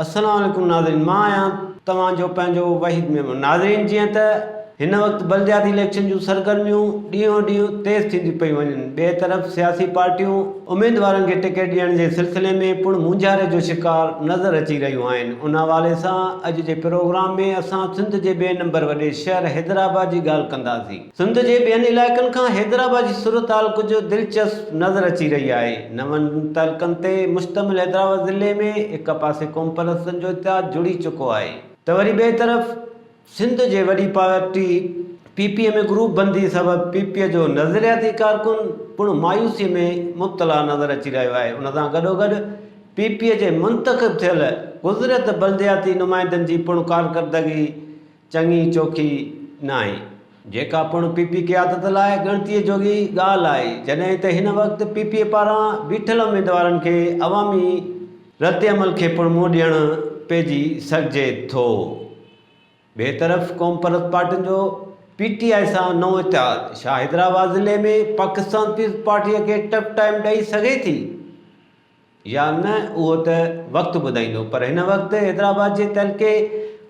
السلام عليڪم ناظرين مان آهيان توهان جو پنهنجو وحيد ميمڻ ناظرين جيئن ته هن وقت بلدياتي اليڪشن جون سرگرميون ڏينهون ڏينهن تيز ٿينديون پيون وڃن ٻئي طرف سياسي پارٽيون اميدوارن کي ٽڪيٽ ڏيڻ جي سلسلي ۾ پڻ مونجهاري جو شڪار نظر اچي رهيون آهن ان حوالي سان اڄ جي پروگرام ۾ اسان سنڌ جي ٻئي نمبر وڏي شهر حيدرآباد جي ڳالهه ڪنداسين سنڌ جي ٻين علائقن کان حيدرآباد جي صورتحال ڪجهه دلچسپ نظر اچي رهي آهي. نون تعلقن تي مشتمل حيدرآباد ضلعي ۾ هڪ پاسي قومپرستن جو اتحاد جڙي چڪو آهي ته وري ٻئي طرف سنڌ جي وڏي party P P P ۾ group بندي سبب پي پي اي جو نظرياتي ڪارڪن پڻ مايوسي ۾ مبتلا نظر اچي رهيو آهي ان سان گڏوگڏ پي پي اي جي منتخب ٿيل گذريل بلدياتي نمائندن جي پڻ ڪارڪردگي چڱي چوکي ناهي، جيڪا پڻ پي پي قيادت لاء ڳڻتيء جوڳي ڳالهه آهي، جڏهن ته هن وقت پي پي اي پاران بيٺل اميدوارن کي عوامي ردعمل کي پڻ منهن ڏيڻ پئجي سگهجي ٿو. ٻئي طرف قومپرست پارٽين جو پي ٽي آء سان نئون اتحاد، ڇا حيدرآباد ضلعي ۾ پاڪستان پيپلز پارٽيء کي ٽف ٽائيم ڏئي سگهي ٿي؟ يا نه اهو ته وقت ٻڌائيندو پر هن وقت حيدرآباد جي تعلقي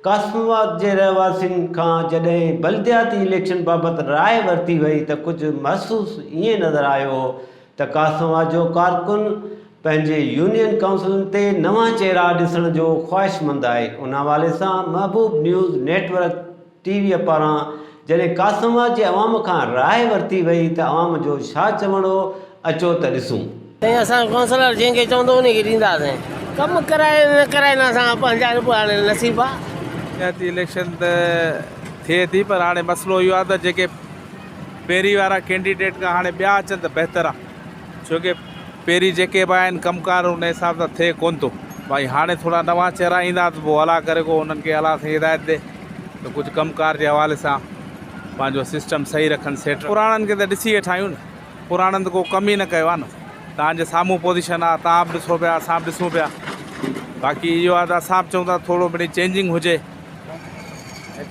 قاسم آباد جي رهواسين کان جڏهن بلدياتي اليڪشن بابت راء ورتي وئي ته ڪجهه محسوس ائين نظر آيو هو ته قاسم آباد جو ڪارڪن پنهنجي يونين ڪائونسلن تي نوان چهرا ڏسڻ جو خواهشمند آهي ان حوالي سان Mahboob news network T V پاران جڏهن قاسم آباد جي عوام کان راء ورتي وئي ته عوام جو ڇا چوڻ هو، اچو ته ڏسون. سائين اسان ڪونسلر جنهن کي چوندو انهي کي ڏينداسين ڪم ڪرائي نه ڪرائي نه اسان پنهنجا رڳو هاڻي نصيب آ. پنچائتي اليڪشن ته ٿئي ٿي پر هاڻي مسئلو اهو آهي ته جيڪي پهرين وارا ڪينڊيڊيٽ کان هاڻي ٻيا اچن ته بهتر آهي. ڇو ڪي پهرين جيڪي به آهن ڪم ڪار ان حساب سان ٿئي ڪون ٿو ڀائي هاڻي ٿورا نوان چهرا ايندا ته پو الا ڪري ڪو انهن کي الا سائين هدايت ڏي ته ڪجهه ڪم ڪار جي حوالي سان پنهنجو سسٽم صحيح رکن سيٽ پراڻن کي ته ڏسي ويٺا آهيون نه پراڻن ته ڪو ڪم ئي نه ڪيو آهي نه توهان جي سامهون پوزيشن آهي توهان به ڏسو پيا اسان به ڏسون پيا باقي اهو آهي ته اسان به چئون ٿا ٿورو مڙئي چينجنگ هجي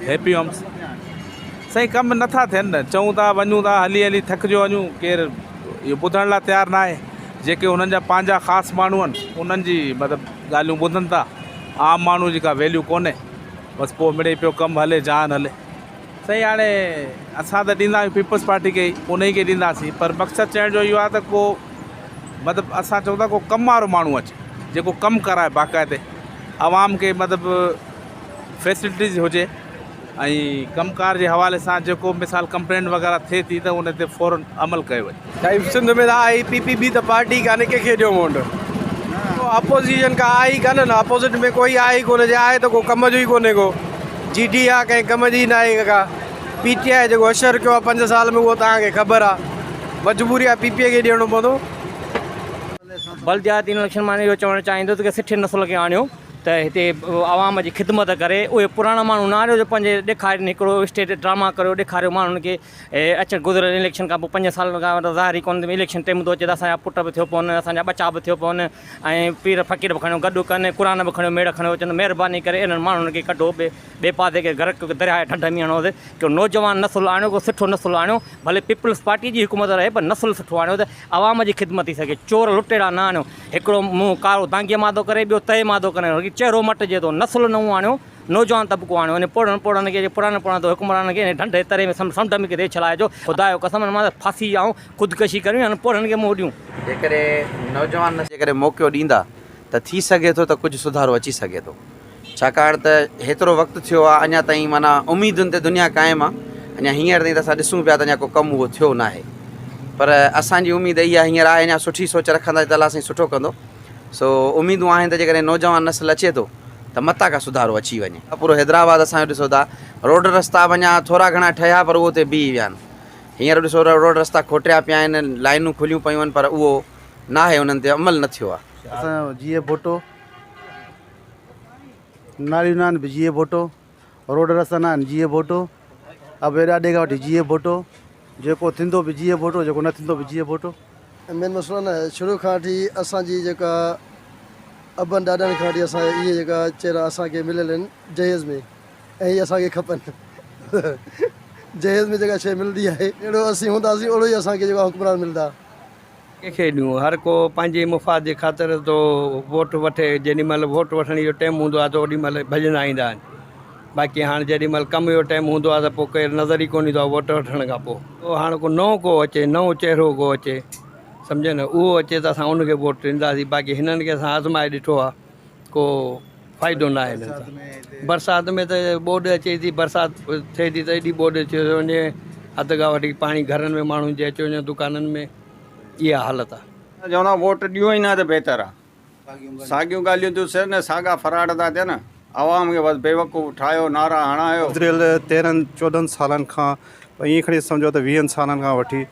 هيپي هومس سائين ڪم نٿا ٿين نه چئون ٿا وڃون ٿا هلي هلي ٿڪجو وڃون ڪير اهو ٻڌڻ لاء تيار نه آهي جيڪي هنن جا پنهنجا خاص ماڻهو آهن انهن جي مطلب ڳالهيون ٻڌن ٿا عام ماڻهو جي ڪا ويليو ڪونهي بس پوء مڙئي پيو ڪم هلي جهان هلي سائين هاڻي اسان ته ڏيندا آهيون پيپلز پارٽي کي ئي انهي کي ڏينداسين پر مقصد چوڻ جو اهو آهي ته ڪو مطلب اسان چون ٿا ڪو ڪم وارو ماڻهو اچي جيڪو ڪم ڪرائي باقاعدي عوام کي مطلب فيسلٽيز هجي ۽ ڪم ڪار جي حوالي سان جيڪو مثال ڪمپلينٽ وغيره ٿئي ٿي ته ان تي فوراً عمل ڪيو وڃي ٽائيمز سنڌ ۾ ته آء ئي پي پي بي ته پارٽي ڪانهي ڪنهن کي ڏيو وونٽ اپوزيشن ڪا آء ئي ڪانهن نه اپوزٽ ۾ ڪوئي آء ئي ڪونه جي آء ته ڪو ڪم جو ئي ڪونهي ڪو جي ڊي آء ڪنهن ڪم جي ناهي ڪا پي ٽي آء جيڪو اشر ڪيو آء پنج سال ۾ اهو توهان کي خبر آء مجبوري آء پي پي کي ڏيڻو پوندو. بلدياتي اليڪشن مان اهو چوڻ چاهيندو ته سٺي نسل کي آڻيو ته هتي عوام جي خدمت ڪري اهي پراڻا ماڻهو نه آڻيو جو پنهنجي ڏيکارين هڪڙو اسٽيج ڊراما ڪريو ڏيکاريو ماڻهن کي اچڻ گذريل اليڪشن کان پوء پنج سالن کان ته ظاهر ئي ڪونه ته اليڪشن ٽيم ٿو اچي ته اسان جا پٽ به ٿيو پون اسان جا ٻچا به ٿيو پون ۽ پير فقير به کڻيو گڏ ڪن قرآن به کڻيو ميڙ کڻيو اچن مهرباني ڪري انهن ماڻهن کي ڪڍو ٻي ٻي پاسي ڪي غرق ڪيو ڪي درياء جي ڍنڍ ۾ هڻو ته ڪو نوجوان نسل آڻيو ڪو سٺو نسل آڻيو ڀلي پيپلز پارٽي جي حڪومت رهي پر نسل سٺو آڻيو ته عوام جي خدمت ٿي سگهي چور لٽيرا نه آڻيو هڪڙو منهن ڪارو دانگيء مان ٿو ڪري ٻيو تئي مان ٿو ڪري چهرو مٽجي ٿو نسل نئون آڻيو نوجوان طبقو آڻيو ان پوڙهن پوڙهن کي جي پراڻن پراڻن تو حڪمرانن کي ان ڍنڍ جي تري ۾ سمنڊ ۾ ڪٿي ڇلائي جو خدا جو قسم ان مان ته ڦاسي آئون خودڪشي ڪريون يا انهن پوڙهن کي منهن ڏيون. جيڪڏهن نوجوان نه جيڪڏهن موقعو ڏيندا ته ٿي سگهي ٿو ته ڪجهه سڌارو اچي سگهي ٿو ڇاڪاڻ ته هيترو وقت ٿيو آهي اڃا تائين معنيٰ اميدن تي دنيا قائم آهي اڃا هينئر تائين ته اسان ڏسون پيا ته اڃا ڪو ڪم اهو ٿيو ناهي پر اسان جي اميد اهي هينئر آهي اڃا سٺي سوچ رکندا ته الله سائين سٺو ڪندو سو اميدون آهن ته جيڪڏهن نوجوان نسل اچي ٿو ته متان ڪا سڌارو اچي وڃي. پورو حيدرآباد اسان جو ڏسو ٿا روڊ رستا اڃا ٿورا گهڻا ٺهيا پر اهو اتي بيهي ويا آهن هينئر ڏسو ته روڊ رستا کوٽيا پيا آهن لائينون کليون پيون آهن پر اهو ناهي انهن تي عمل نه ٿيو آهي. اسان جو جيئي ڀٽو ناليون نه آهن به جيئي ڀٽو. روڊ رستا نه آهن جيئي ڀوٽو ابي ڏاڏي کان وٺي جيئي ڀوٽو جيڪو ٿيندو به جيئي ڀوٽو جيڪو نه ٿيندو به جيئي ڀوٽو. مين مسئلو نه آهي شروع کان وٺي اسان جي جيڪا ابن ڏاڏن کان وٺي اسان اهي جيڪا چهرا اسان کي مليل آهن جهيز ۾ ۽ اهي اسان کي کپن جهيز ۾ جيڪا شيء ملندي آهي اهڙو اسين هونداسين اهڙو ئي اسان کي جيڪا حڪمران ملندا ڪنهن کي ڏيون؟ هر ڪو پنهنجي مفاد جي خاطر ٿو ووٽ وٺي، جيڏي مهل ووٽ وٺڻ جو ٽيم هوندو آهي ته اوڏي مهل ڀڄندا ايندا آهن، باقي هاڻ جيڏي مهل ڪم جو ٽيم هوندو آهي ته پوء ڪير نظر ئي ڪونه ايندو آهي ووٽ وٺڻ کان پوء. او هاڻ ڪو نئون ڪو اچي، نئون چهرو ڪو اچي سمجهيو نه، اهو اچي ته اسان ان کي ووٽ ڏينداسين، باقي هنن کي اسان آزمائي ڏٺو آهي. ڪو فائدو ناهي انهن سان برسات ۾ ته ٻوڏ اچي ٿي برسات ٿئي ٿي ته ايڏي ٻوڏ اچي ٿي وڃي اڌ کان وڌيڪ پاڻي گهرن ۾ ماڻهن جي اچي وڃن دڪانن ۾ اها حالت آهي. چوندا ووٽ ڏيون ئي نه ته بهتر آ ساڳيون ڳالهيون ٿيون سر نه ساڳا فراڊ ٿا ٿين عوام کي بس بيوقوف ٺاهيو نعرا هڻايو. گذريل تيرهن چوڏهن سالن کان پر ائين کڻي سمجهو ته ويهن سالن کان وٺي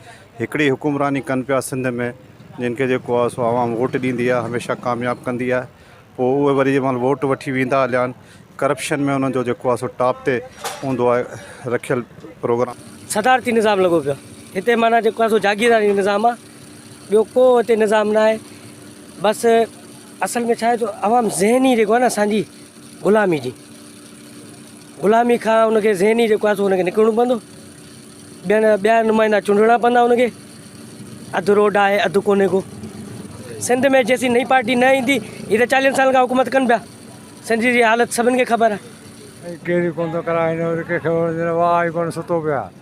هڪڙي حڪمراني ڪن پيا سنڌ ۾ جن کي جيڪو آهي سو عوام ووٽ ڏيندي آهي هميشه ڪامياب ڪندي آهي پوء اهي وري جنهن مهل ووٽ وٺي ويندا هليا آهن ڪرپشن ۾ انهن جو جيڪو آهي سو ٽاپ تي هوندو آهي رکيل پروگرام صدارتي نظام لڳو پيو آهي هتي معنيٰ جيڪو آهي سو جاگيرداري نظام آهي ٻيو ڪو هتي نظام ناهي بس اصل ۾ ڇا آهي جو عوام ذهني جيڪو آهي نه اسانجي غلامي جي غلامي کان ان کي ذهني جيڪو آهي سو ان کي نڪرڻو پوندو ٻين ٻيا نمائندا چونڊڻا پوندا ان کي اڌ روڊ آهي اڌ ڪوني ڪو سنڌ ۾ جيسي نئي پارٽي نه ايندي هي ته چاليهن سالن کان حڪومت ڪن پيا سنڌ جي حالت سڀن کي خبر آهي ڪير ڪونه ٿو ڪرائي هن وقت ڪنهن کي وڻجي نه واهه آهي ڪونه ستو پيو آهي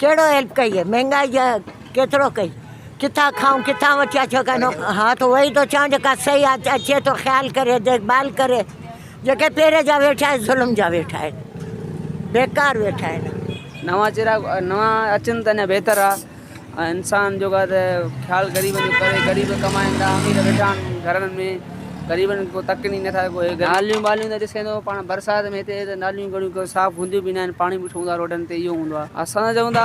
ڪهڙو هيلپ ڪئي اهي مهنگائي جا ڪيترو ڪئي ڪٿان کائون ڪٿان وٺيا ڇو ڪانه ها ته اهي ئي ٿو چوان جيڪا صحيح آهي اچي ٿو خيال ڪري ديک ڀال ڪري جيڪي پهرين جا ويٺا آهن ظلم جا ويٺا آهن بيڪار ويٺا آهن نوان چهرا نوان اچن ته اڃا بهتر آ انسان جو خيال غريبن جو ڪري غريب ڪمائن ٿا امير ويٺا آهن گهرن ۾ غريبن کي ڪو تڪ ڏئي نٿا سگهو. ناليون ٻاليون ته ڏسين ٿو پاڻ برسات ۾ هتي ته ناليون گهڻيون ڪو صاف هونديون به ناهن پاڻي بيٺو هوندو آهي روڊن تي اهو هوندو آهي. اسان چئون ٿا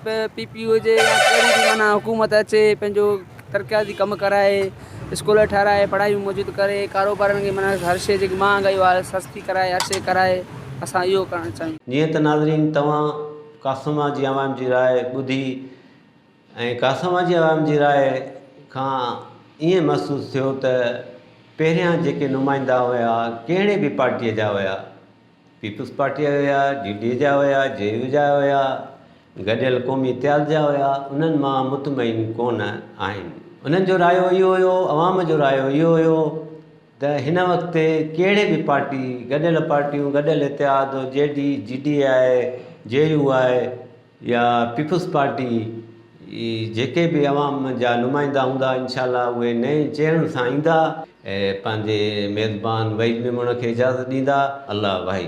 پي پي هجي يا ڪهڙي به معنيٰ حڪومت اچي پنهنجو ترقياتي ڪم ڪرائي اسڪول ٺهرائي پڙهائي موجود ڪري ڪاروبارن کي معنيٰ هر شيء جيڪي مهانگائي آهي سستي ڪرائي هر شيء ڪرائي اسان اهو ڪرڻ چاهيون. جيئن ته ناظرين توهان قاسم جي عوام جي راء ٻڌي. ۽ ڪاساوا جي عوام جي راء کان ائين محسوس ٿيو ته پهريان جيڪي نمائندا هيا ڪهڙي به پارٽيء جا هيا، پيپلز پارٽيء جا هيا، جي ڊي اي جا هيا، جي يو جا هيا، گڏيل قومي اتحاد جا هيا، انهن مان مطمئن ڪونه آهن. انهن جو رايو اهو هيو، عوام جو رايو اهو هيو ته هن وقت تي ڪهڙي به پارٽي، گڏيل پارٽيون، گڏيل اتحاد، G D, G D A آء، جي يو آء، يا پيپلز پارٽي جي جيڪي به عوام جا نمائندا هوندا انشاء الله اهي نئين چهرن سان ايندا ۽ پنهنجي ميزبان وحيد ميمڻ کي اجازت ڏيندا الله وحي.